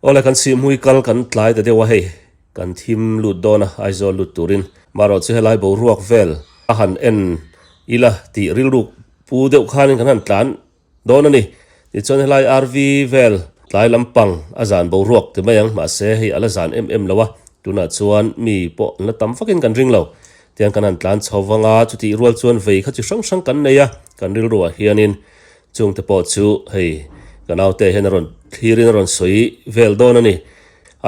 Awle kan sihmui kal kan tlai ta deuh a hei, kan thim lut dawn a, Aizawl lut turin. Marawh chu helai boruak vel a han en ila tih rilruk pu deuh khanin kan han tlan dawn a ni. Tichuan helai RV vel tlai lampang a zan boruak ti mai ang, mahse hei a la zan em em lo a, tunah chuan mi pawh an la tam fakin kan ring lo. Tiang kan han tlan chho vang a, chutih rual chuan vei kha chi hrang hrang kan nei a, kan rilruah hianin chungte pawh chu hei ka naute hian a rawn thlirin a rawn sawi vel dawn a ni.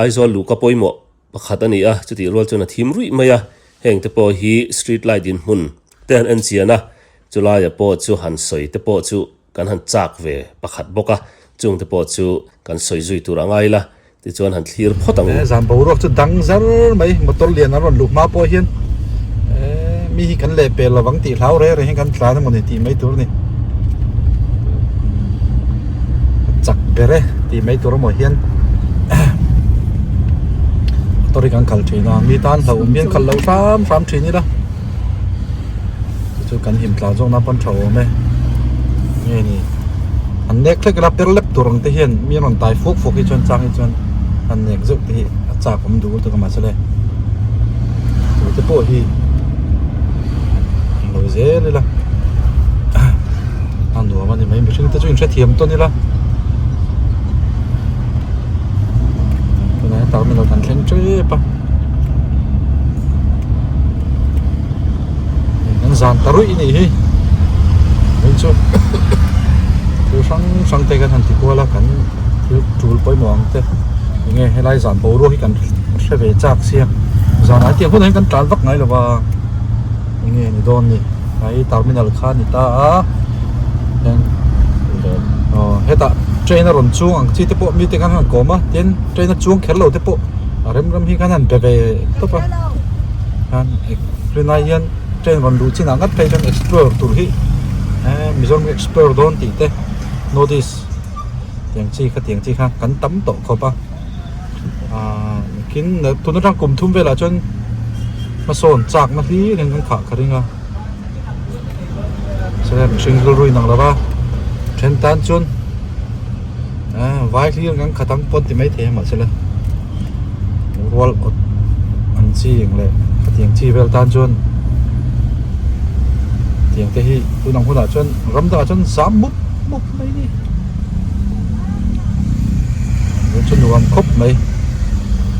Aizawl luhka pawimawh pakhat a ni a, chutih rual chuan a thim ruih mai a, heng te pawh hi street light in hmun te han en chian a, chulai ah pawh chu han sawi te pawh chu Kan han chak ve pakhat bawk a, chung te pawh chu kan sawi zui tur a ngai la, tichuan han thlir phawt ang u. Zan boruak chu dang zar mai, motor lian an rawn luh hma pawh hian mi hi kan leh pel lo vang tih hlau reng rengin kan tlan emawni tih mai tur a ni. Chak ber e tih mai tur amaw hian motor hi kan kal thin a, mi tan hlauhawm hian kal lo hram hram thin ila. chu kan hlim tlan zawk na pawn tha awm e nge ni an nek thlek ila per lep tur ang te hian mi an rawn tai fuak fuak hi chuan chang hi chuan an nek zeuh te hi a chak awm dul tak a mahse le tute pawh hi lo zel ila a nuam a ni mai mihring te chu in hrethiam tawn ila tunah hian tarmit lo thanthleng tep a. Kan zan ta ruih nih hi Min chu thu hrang hrang te kan han ti kual a kan thil tul pawimawh ang te Enge helai zan boruak hi kan hre ve chak sia zan ai tih hunah hi kan tlan vak ngai lo va Enge ni dawn ni Hai terminal kha a ni ta a heng aw hetah train a rawn chung ang chi te pawh mite khan han kawm a tin train a chuang kher lo te pawh-- a rem rem hi khan an be ve tawp a khan tunah hian train rawn duh chinah ngat phei chuan explore tur hi eee mizoram hi explore dawn tih te north east tiang chi kha tiang chi kha kan tam tawh khawp a aaa kin tun atang kum thum velah chuan hmasawn chakna hlir in kan khah kha ring a chulai mihring rilru inang lo va then tan chuan-- ah vai hlir kan khat ang pawh ti mai thei ang mah se la rual awt an chi ang leh hetiang chi vel tan chuan hetiang te hi tun ang hunah chuan ram dangah chuan zam mup mup mai ni vei chu nuam khawp mai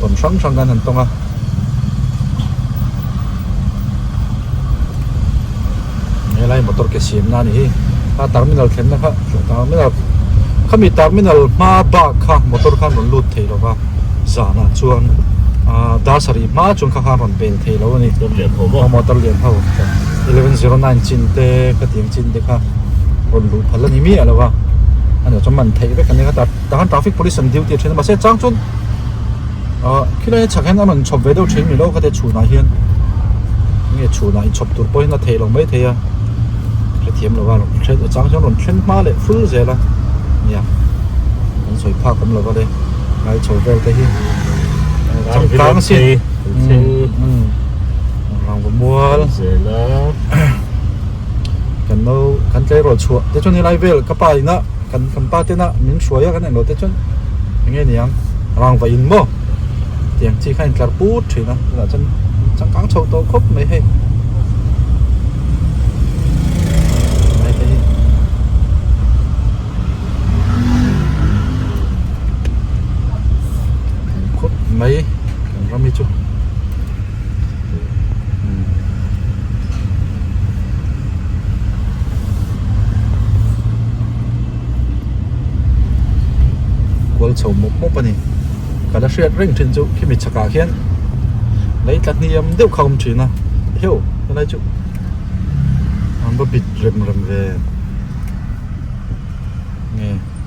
tawn hrang hrang kan han tawng a Helai motor ke siam na nihi a terminal thlen na kha terminal khami terminal hma bak kha motor kha rawn lut thei lova zana chuan a dasari hma chuan kha kha rawn bel thei lo ani motor lian ho 1109 chin te kha ti ang chin te kha rawn luh phal ani mi alova ani chuan man thei vek ani kha ta khan traffic police an duty a then mase chang chuan Ah, khilai chhak hian a rawn chhawp ve deuh thin ni lo kha te chhunah hian. Nge chhunah inchhawp tur pawhin a thei lo mai thei a. Hrethiam lova rawn hre a chang chuan rawn thlen hma leh full zel a nia. Kan sawi phak awm lova le ngai chho vel te hi. Chang tlang si. Rangva mual. kan lo kan tlei rawl chhuah te chuan helai vel ka pa ina kan kan pa tena min hruai a kan englo te chuan enge niang rangva in maw tiang chi kha a intlar put thin a tunah chuan changkang chho tawh khawp mai hei khawp mai kan rami chu kual chho mawp mawp a ni ka la hriat reng thin chu khimi chhakah hian lei tla hniam deuh kha a awm thin a heuh helai chu ramba bit rem rem ve nge.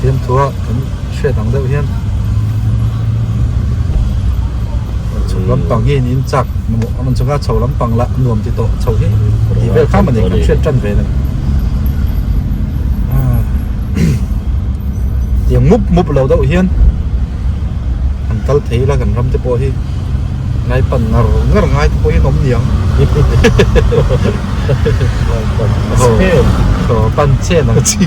fiamthua kan hriat ang deuh hian chhuk lampang hi in chak man chunga chho lampang la nuam ti tawh chho hi ti vel kha mani kan hriat tan ve lo ti mup mup lo deuh hian kan kal thei la kan ram te pawh hi ngai pan ngar ngar ngai te pawh hi nom niang pan chen ang chi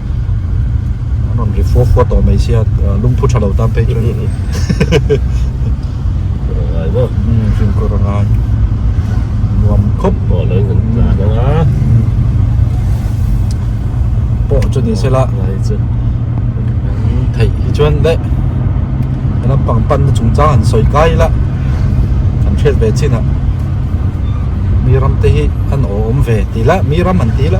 an rawn ri fuah fuah tawh mai sia lungphu tha lo tan phei chuan kawr a ngai bo umm fian kawr a ngai nuam khawp pawh lo hun ta deuh a pawh chu ni sela ngai chu thei hi chuan le a lampang pan na chung chang han sawi kai la kan hriat ve chin a miram te hi an awm ve ti la miram han ti la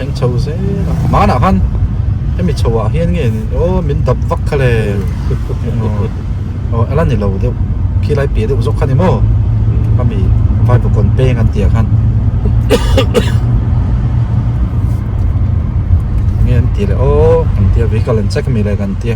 Eng chho zêl a, hmânah khan hemi chhoah hian nge ni aw min dap vak kha le aw a la ni lo deuh khi lai piah deuh zâwk kha ni maw ami vaipa kawn pêng an tihah khan eng nge an tih leh aw kan tia vehicle an check a mi le kan tia.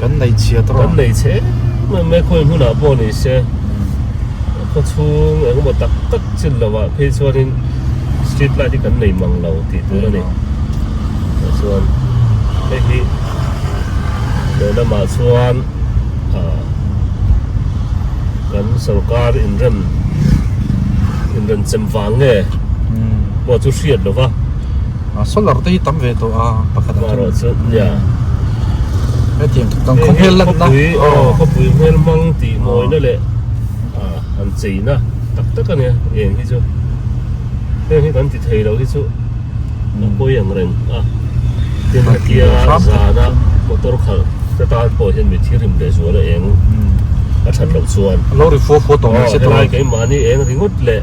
Kan nei chhiat rawh. Kan nei chhe mai mai khawi hunah pawh ni se, khawchhung engemaw tak tak chin lohah phei chuanin street light hi kan nei mang lo tih tur a ni. Tichuan hei hi lehlamah chuan kan sorkar inrem inrem chem vang nge pawh chu hriat lova. Solar te hi tam ve tawh a pakhat a tum chu nia hetiang kan khaw hmel lan na khawpui hmel mang tih mawi na leh an chei na tak tak a nia eng hi chu heng hi kan ti thei lo hi chu a pawi ang reng a tin hetia zana motor khalh te tan pawh hian mi thil rim leh zual a eng a that loh chuan a lo ri fuah fuah tawh mai se tawh a helai keimah hi eng ringawt leh.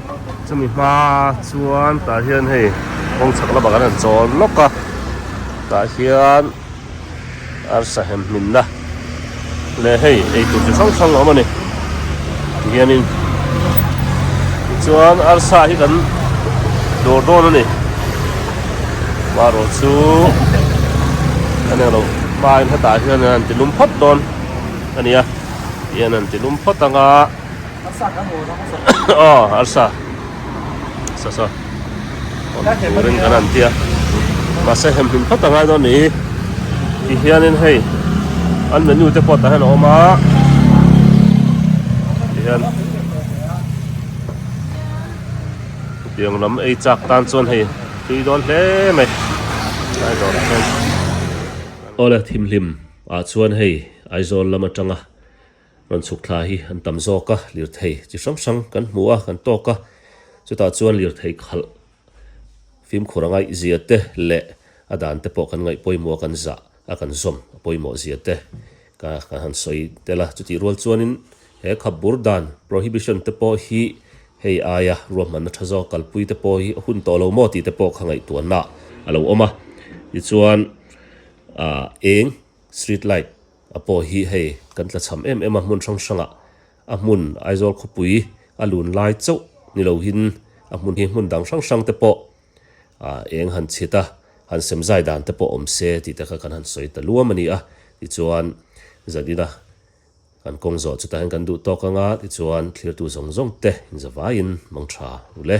Chumi hma chuan tah hian hei kawng chhak lamah kan han chawl lawk a, tah hian arsa hem hminna leh hei eitur chi hrang hrang a awm a ni ti hianin tichuan arsa hi kan dawr dawn a ni, amaherawh chu kan eng lo hmain hetah hian an han ti lum phawt dawn a nia, tihian an ti lum phawt ang a. Awle thim hlim ah chuan hei Aizawl lam atanga. Rawn chhuk thla hi an tam zawk a, lirthei chi hrang hrang kan hmu a, kan tawk a. Chutah chuan lirthei khalh fimkhur a ngaih zia te leh a dan te pawh kan ngaih pawimawh a, kan zah a, kan zawm a pawimawh zia te ka kan han sawi tel a. Chutih rual chuanin he khap bur dan, prohibition, te pawh hi hei aia ruahmanna tha zawk kalpui te pawh hi a hun tawh lo maw tih te pawh kha ngaihtuahna a lo awm a. Tichuan eng street light. A paw hi hei kan tla cham em em a, hmun hrang hrangah a hmun Aizawl khawpui a lun lai chauh ni lohin a hmun hi hmun dang hrang hrangte pawh eng han chhit a, han sem zai dan te pawh awm se tih te kha kan han sawi ta luam a ni a. Tichuan zan ina kan kawng zawh chutah hian kan duh tawk ang a, tichuan thirtu zawng zawng te inzavaiin hmang tha u le.